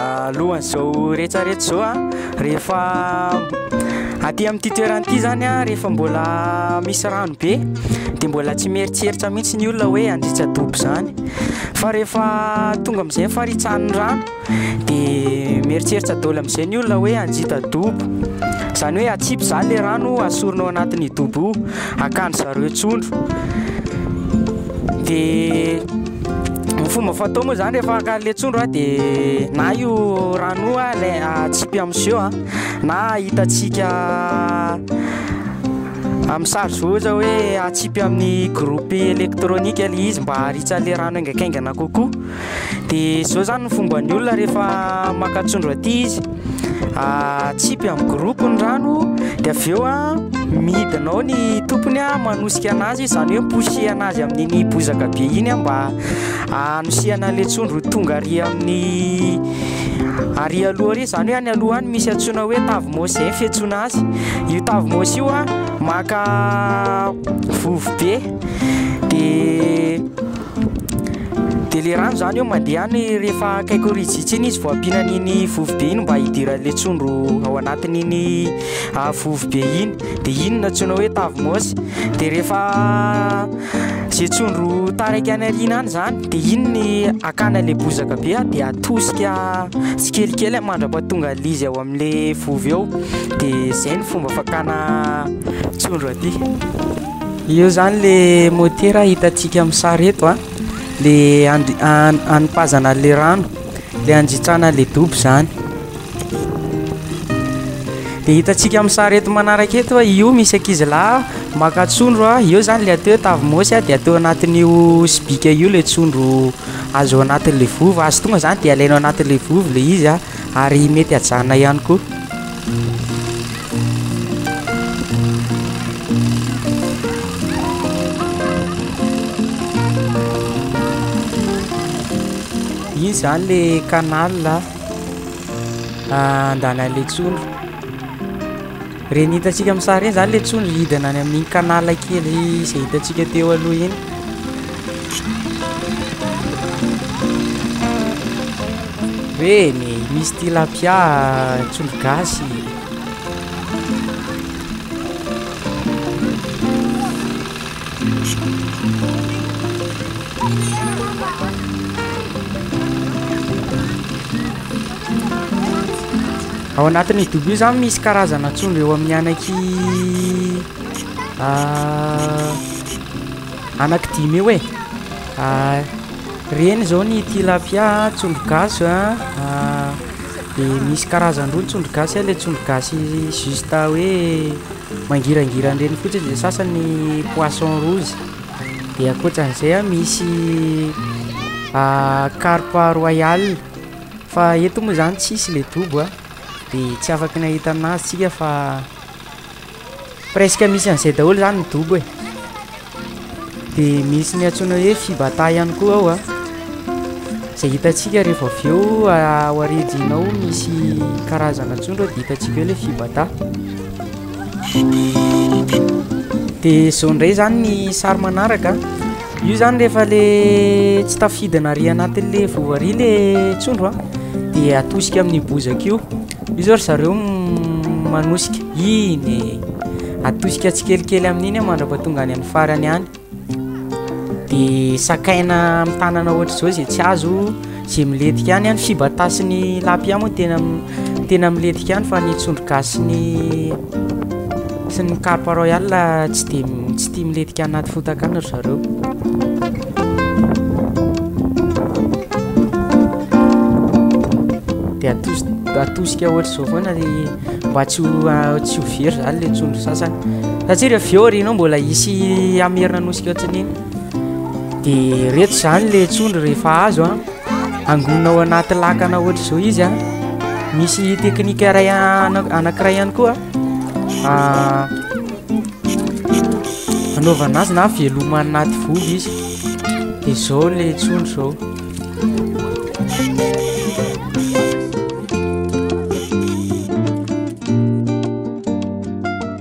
alohan'izao rehetsarehetra zao a rehefa aty amin'ity toerana ity zany a rehefa mbola misy rano be de mbola tsy mieritreritra mihitsy ny olona hoe handritra dobo zany fa rehefa tonga am'izay faritsahan'ny rano De mieritseritra daholo amin'izay ny olona hoe hanjita dobo. Izany hoe atsipy izany ilay rano asorina ao anatin'ny dobo io, hakan-dry zareo trondro. De ny fomba fatao moa izany rehefa haka an'ilay trondro a de na io rano io a alai- atsipy amin'ny siô a, na hitantsika amin'ny sary izao ohatra hoe atsipy amin'ny groupe électronique ilay izy mba haharitsa an'ilay rano haingankaingana kokoa. dia izao izany ny fomban'ny olona rehefa maka trondro aty izy atsipy amin'ny groupe ny rano dia avy eo a midina ao ny tompony a manosika an'azy izany hoe miposihana azy amin'iny bozaka be iny a mba hanosihana an'ilay trondro ho tonga ary amin'ny ary aloha ary izany hoe any aloha any misy antsoina hoe tavy maosy izay ny fiantsoana azy io tavy maosy io a maka vovobe dia Dia le rano zany eo mandeha any rehefa akaiky ho rijitsy iny izy vao ampiana an'iny vovobe iny mba hidiran'le tsondro ao anatin'iny ah, vovobe iny de iny no antsoina hoe tavy môsy de rehefa ze tsondro taraiky any aoriana any zany de iny ny akana le bozaka be ah, de atosika tsikelikely mandra-pahatonga an'izy ao am'le vovo eo de zay ny fomba fakana tsondro aty. Eo zany le motera hitantsika amin'ny sary eto a, le hanipazana an'le rano, le hanjitsana an'le dobo zany. De hitantsika amin'ny sary eto manaraka eto a, io misy ankizy lahy maka trondro a, eo zany le atao hoe tavimôsy a, de atao anatin'io sobika io le trondro azo anatin'le vovo, azo tonga zany de alaina anatin'le vovo le izy a. ary mety hajanona ihany koa. Iny zany le canal andanan'ilay tsondro. Ireny hitantsika amin'ny sary ireny izany ilay tsono hidina any amin'iny canal kely izay hitantsika teo aloha iny. Ireny, misy tilapia, tsondro gasy. Ao anatin'izy dobo io zany misy karazana tsondro eo amin'ny anaky ah, anaky dimy eo e ah, reny zao ny tilapia tsondro gasy a ah, dia misy karazan-droa ny tsondro gasy a le tsondro gasy juste hoe mangirangirandreny fotsiny dia sasany poisson rouge dia ankoatran'izay a misy ah, carpe royale Fa eto moa zany tsisy le dobo a, de tsy afaky nahita anazy tsika fa presque misy an'izay daholo zany ny dobo e, de misy ny antsoina hoe fibata ihany koa ao a, zay hitantsika rehefa avy eo ao aridjina ao misy karazana tsondro de hitantsika eo le fibata. De zao ndray zany ny sary manaraka. Io izany rehefa ilay tsy tafidina ary anatin'ilay vovo ary ilay tsondro dia atosika amin'ny bozaka io. Io izao ry zareo manosika, iny e! Atosika tsikelikely amin'iny mandrapa tonga any amin'ny farany any. Dia sakaina amin'ny tanana ohatr'izao izay tsy azo. Ze miletika any any fibata sy ny lapia moa tena tena miletika any fa ny tsondro gasy sy ny sy ny carpe royal tsy de tsy tia miletika anaty fotaka any ry zareo. De atos- atosika ohatr'izao foana le mba tsy ho a- tsy ho very zany le tsondro sasany satsia re avy eo aorianao mbola hisy hamerina anao sika tsindriny. de reto zany le tsondro rehefa azo a angonina ao anaty lakana ohatra izao izy a misy teknika ray anankiray ihany koa anaovana azy na veloma anaty vovo izy de zao le tsondro zao